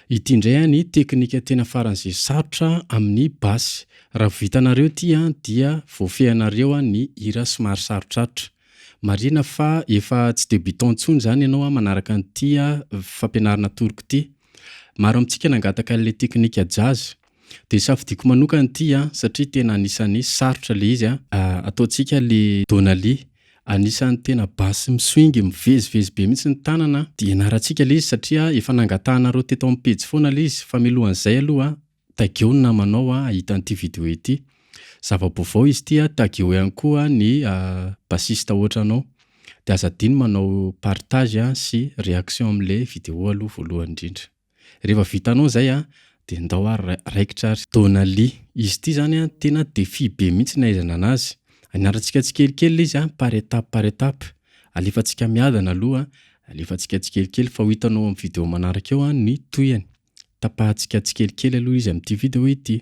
Ity indray a ny teknika tena faran'izay sarotra amin'ny basy. Raha vao vitanareo ity a dia voafehinareo a ny hira somary sarotrarotra. Marihina fa efa tsy débutant intsony izany ianao a manaraka an'ity a fampianarana atoroko ity. Maro amintsika nangataka an'ilay teknika jazz. Dia safidiako manokana ity an, satria tena anisany sarotra le izy an. Ataontsika le Donaly, anisany tena bass mi-swing mivezivezy be mihitsy ny tanana an. Dia ianarantsika le izy satria efa nangatahanareo teto amin'ny pejy foana le izy. Fa milohan'izay aloha an, tageo ny namanao an hahita an'ity video ity. Zava-baovao izy ity an, tageo ihany koa ny bassiste ohatranao. Dia aza adino manao partage sy réaction amin'ilay video aloha voalohany indrindra. Rehefa vitanao izay an, dia ndao ary raikitra ary. Donali, Izy ity izany an, tena défi be mihitsy ny ahaizana anazy. Aniarantsika tsikelikely ilay izy an, par étape par étape. Alefantsika miadana aloha an, alefantsika tsikelikely fa ho hitanao amin'ny vidéo manaraka eo an ny tohiny. Tapahantsika tsikelikely aloha izy amin'ity vidéo ity.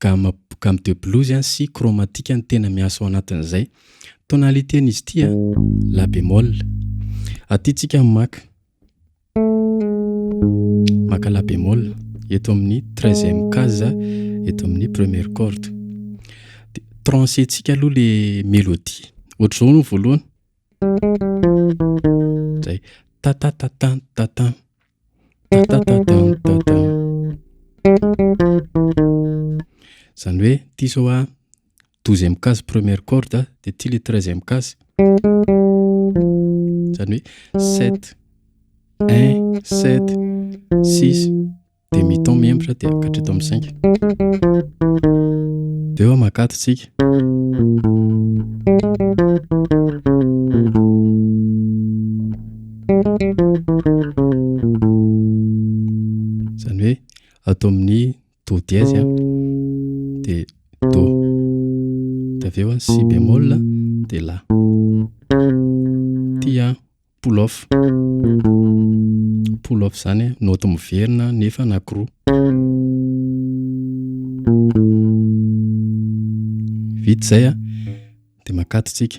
Gamme gamme de blues an sy chromatique no tena miasa ao anatin'izay. Tonalité n'izy ity an, la bémol. Aty tsika maka maka la bémol eto amin'ny treizième case eto amin'ny première corde. Dia trancher tsika aloha le mélodie. Ohatr'izao aloha ny voalohany. Zay ta ta ta tan ta tan. Zany hoe ty zao a douzième case première corde de ty le treizième case zany hoe sept un sept six de mi ton mihemotra de ka hatreto amin'ny cinq de eo aman-kato tsika Izany hoe ato amin'ny Do dièse an, dia Do, dia avy eo Si bémol dia La. Ity an, pull off, pull off izany an, naoty miverina nefa anankiroa. Vita izay an, dia makatso isika.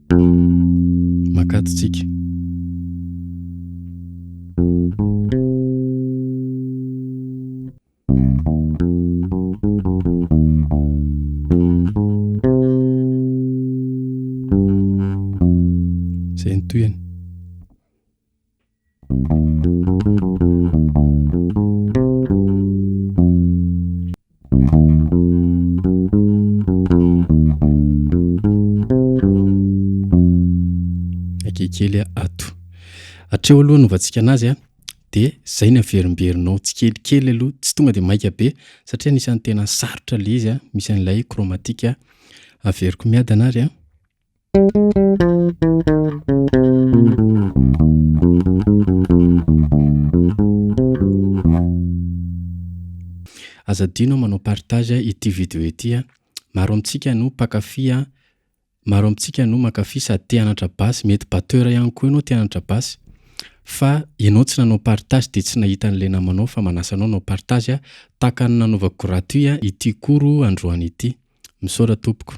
Makady tsika. Izay no tohiny. kely ato atreo aloha novantsika anazy a dia zay ny averimberinao tsy kelikely aloha tsy tonga dia maika be satria nisan'ny tena sarotra le izy a misy an'ilay kromatika averiko miadana ary a Aza adino manao partage ity video ity a! Maro amintsika no mpakafy a! Maro amintsika no mankafy sady te hanantra basy, mety batteur ihany koa ianao te hanantra basy fa ianao tsy nanao partage dia tsy nahita an'ilay namanao fa manasa anao hanao partage a! Tahaka ny nanaovako gratuit ity cours androany ity. Misaotra tompoko.